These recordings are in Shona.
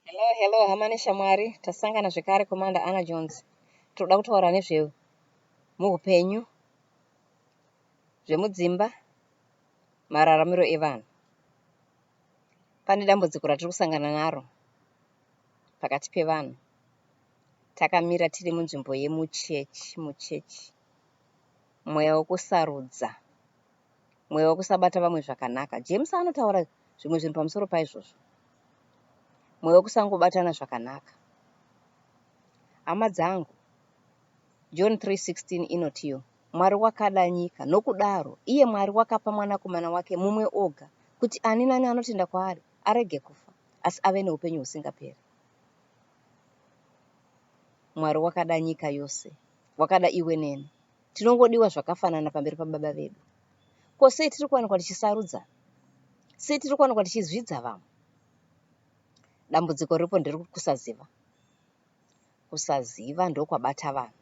Hello, hello, hama neshamwari. Tasangana zvekare Commander Anna Jones. Tinoda kutaura nezve muhupenyu, zvemudzimba, mararamiro evanhu. Pane dambudziko ratiri kusangana naro pakati pevanhu. Takamira tiri munzvimbo yemuchechi, muchechi, mweya wekusarudza. mweya wekusabata vamwe zvakanaka. James anotaura zvimwe zvinhu pamusoro paizvozvo, mweya wekusangobatana zvakanaka. Hama dzangu, John 3:16 inotiyo, Mwari wakada nyika, nokudaro iye Mwari wakapa mwanakomana wake mumwe oga, kuti ani nani anotenda kwaari arege kufa, asi ave neupenyu husingaperi. Mwari wakada nyika yose, wakada iwe neni. Tinongodiwa zvakafanana pamberi paBaba vedu. Ko sei tiri kuwanikwa tichisarudza? Sei tiri kuwanikwa tichizvidza vamwe? Dambudziko riripo ndiri kusaziva. Kusaziva ndokwabata vanhu.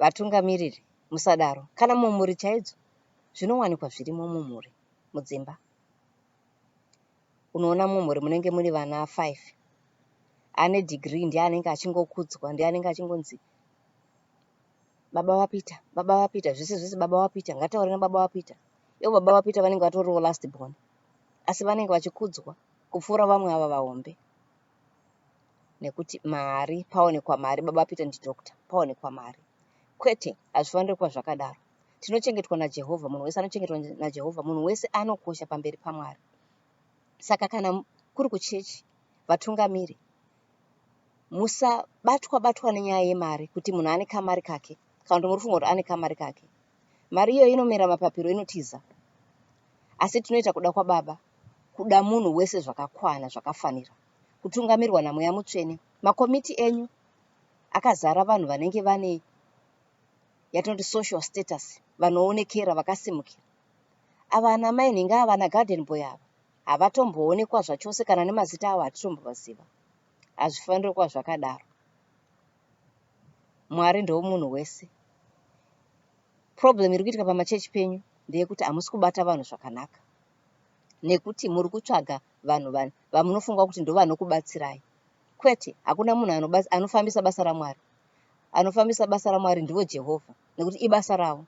Vatungamiriri, musadaro. Kana mumhuri chaidzo, zvinowanikwa zvirimo mumhuri, mudzimba. unoona mumhuri munenge muri vana five ane degree ndiye anenge achingokudzwa ndiye anenge achingonzi baba vapeter baba vapeter zvese zvese baba vapeter ngataure nababa vapeter ivo baba vapeter vanenge vatoriwo last born asi vanenge vachikudzwa kupfuura vamwe ava vahombe nekuti mari paonekwa mari baba peter ndidoctor paonekwa mari kwete hazvifaniri kuva zvakadaro tinochengetwa najehovha munhu wese anochengetwa najehovha munhu wese anokosha pamberi pamwari saka kana kuri kuchechi vatungamiri musabatwa batwa nenyaya yemari kuti munhu ane kamari kake kana kuti muri funga kuti ane kamari kake mari iyoyo inomera mapapiro inotiza asi tinoita kuda kwababa kuda munhu wese zvakakwana zvakafanira kutungamirwa namweya mutsvene makomiti enyu akazara vanhu vanenge vane yatinoti social status vanoonekera vakasimukira ava ana mai nhinga ava ana garden boy ava havatomboonekwa zvachose kana nemazita avo hatitombovaziva hazvifaniri kuva zvakadaro mwari ndomunhu wese problem iri kuitika pamachechi penyu ndeyekuti hamusi kubata vanhu zvakanaka nekuti muri kutsvaga vanhu vani vamunofunga kuti ndovanokubatsirai kwete hakuna munhu anofambisa basa ramwari anofambisa basa ramwari ndivo jehovha nekuti ibasa ravo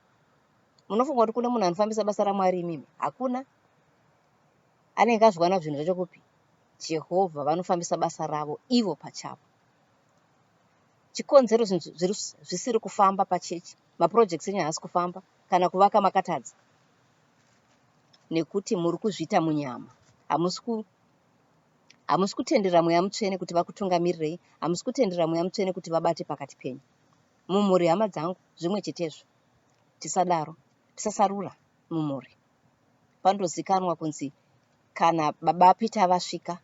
munofunga kuti kune munhu anofambisa basa ramwari imimi hakuna anenge azviwana zvinhu zvacho kupi jehovha vanofambisa basa ravo ivo pachavo chikonzero zvinhu zvisiri kufamba pachechi mapurojekts enyu haasi kufamba kana kuvaka makatadza nekuti muri kuzviita munyama hamusi Hamusi kutendera Mweya Mutsvene kuti vakutungamirirei, hamusi kutendera Mweya Mutsvene kuti vabate pakati penyu. Mumhuri, hama dzangu, zvimwe chetezvo. Tisadaro. Tisasarura mumhuri. Pandozikanwa kunzi kana baba Peter vasvika,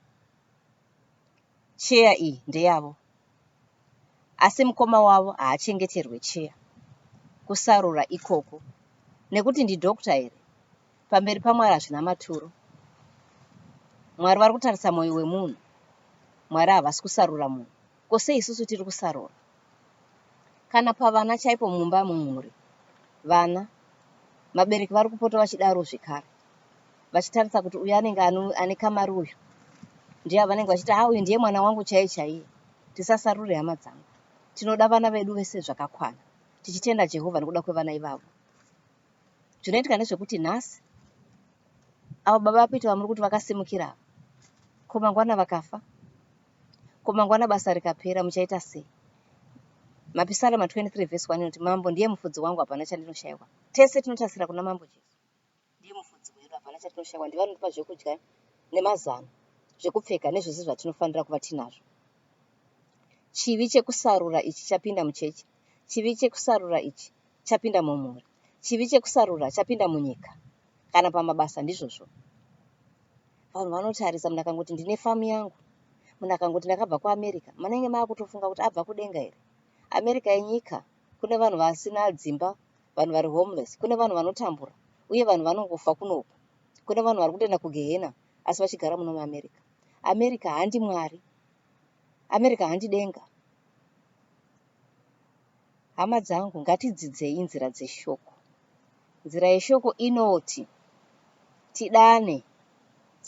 cheya iyi ndeyavo. Asi mukoma wavo haachengeterwe cheya. Kusarura ikoko. Nekuti ndidhokta here? Pamberi paMwari hazvina maturo. Mwari vari kutarisa mwoyo wemunhu. Mwari havasi kusarura munhu. Ko sei isusu tiri kusarura? Kana pavana chaipo mumba mumhuri, vana, mabereki vari kupota vachidaro zvekare, vachitarisa kuti uyu anenge ane kamari uyu, ndiye vanenge vachiti ha uyu ndiye mwana wangu chaiye chaiye. Tisasarure hama dzangu. Tinoda vana vedu vese zvakakwana, tichitenda Jehovha nekuda kwevana ivavo. Zvinoitika ndezvekuti nhasi avo baba vakuita vamuri kuti vakasimukira ava ko mangwana vakafa ko mangwana basa rikapera muchaita sei mapisalema 23 vhesi 1 inoti mambo ndiye mufudzi wangu hapana chandinoshaiwa tese tinotasira kuna mambo jesu ndiye mufudzi wedu hapana chatinoshaiwa ndiye vanotipa zvekudya nemazano zvekupfeka nezvese zvatinofanira kuva tinazvo chivi chekusarura ichi chapinda muchechi chivi chekusarura ichi chapinda mumhuri, chivi chekusarura chapinda munyika kana pamabasa ndizvozvo. Vanhu vanotarisa munhu akangoti ndine famu yangu, munhu akangoti ndakabva kuAmerica, manenge maakutofunga kuti abva kudenga here? America inyika, kune vanhu vasina dzimba, vanhu vari homeless, kune vanhu vanotambura uye vanhu vanongofa kunoku, kune vanhu vari kutoenda kugehena asi vachigara muno muAmerica. America handi Mwari, America handi denga. Hama dzangu, ngatidzidzei nzira dzeshoko. Nzira yeshoko inoti tidane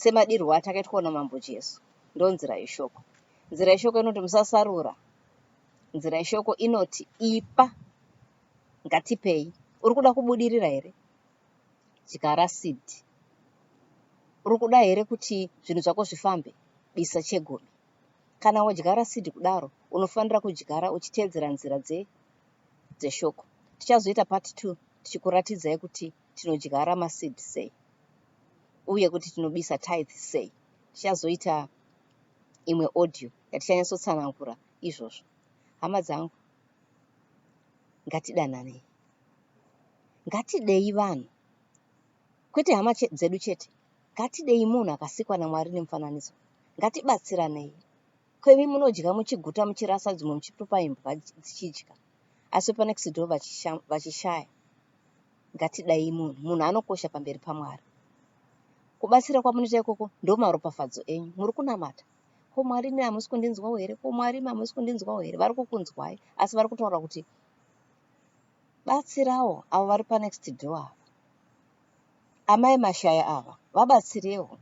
semadirwo atakaitwa naMambo Jesu. Ndonzira yeshoko. Nzira yeshoko inoti musasarura. Nzira yeshoko inoti ipa, ngatipei. Uri kuda kubudirira here? Dyara seed. Uri kuda here kuti zvinhu zvako zvifambe? Bisa chegumi. Kana wodyara seed kudaro, unofanira kudyara uchiteedzera nzira dze dzeshoko. Tichazoita part two tichikuratidzai kuti tinodyara ma seed sei uye kuti tinobisa tithe sei. Tichazoita imwe audio yatichanyatsotsanangura izvozvo. Hama dzangu, ngatidananei. Ngatidei vanhu, kwete hama che dzedu chete. Ngatidei munhu akasikwa naMwari nemufananidzo. Ngatibatsiranei. Ko imi munodya muchiguta muchirasa dzimwe muchitupa imbwa dzichidya asi wepanext door vachishaya. Ngatidai munhu. Munhu anokosha pamberi paMwari. Kubatsira kwamunoita ikoko ndomaropafadzo enyu. Muri kunamata. Ko Mwari imi hamusi kundinzwawo here? Ko Mwari imi hamusi kundinzwawo here? Vari kukunzwai asi vari kutaura kuti batsirawo avo vari panext door ava. Amai mashaya ava vabatsirewo.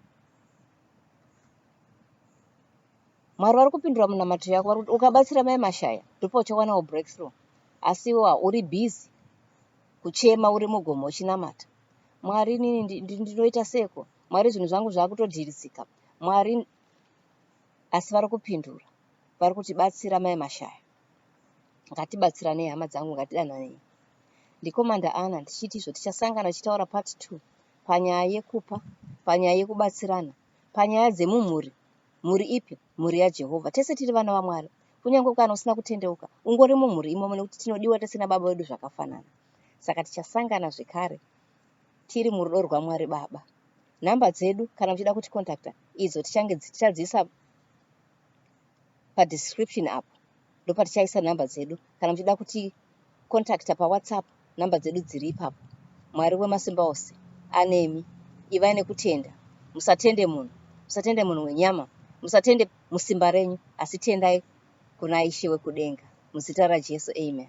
Mwari vari kupindura munamato yako vari kuti ukabatsira mai mashaya ndipo uchawanawo breakthrough asi iwewa uri busy kuchema uri mugomo uchinamata mwari inini ndinoita seko mwari zvinhu zvangu zvakutodhirisika mwari asi vari kupindura vari kuti batsira mai mashaya ngatibatsiranei hama dzangu ngatidananei ndikomanda ana ndichiti izvo tichasangana tichitaura part two panyaya yekupa panyaya yekubatsirana panyaya dzemumhuri mhuri ipi mhuri yajehovha tese tiri vana vamwari kunyange kana usina kutendeuka ungori mumhuri imomo nekuti tinodiwa tese nababa vedu zvakafanana saka tichasangana zvekare tiri murudo rwamwari baba nhamba dzedu kana muchida kuti contacta idzo tichange tichadziisa pa description apo ndopatichaisa number dzedu kana muchida kuti contacta pa whatsapp number dzedu dziri ipapo mwari wemasimba ose anemi ivai nekutenda musatende munhu musatende munhu wenyama musatende musimba renyu asi tendai kuna ishe wekudenga muzita rajesu amen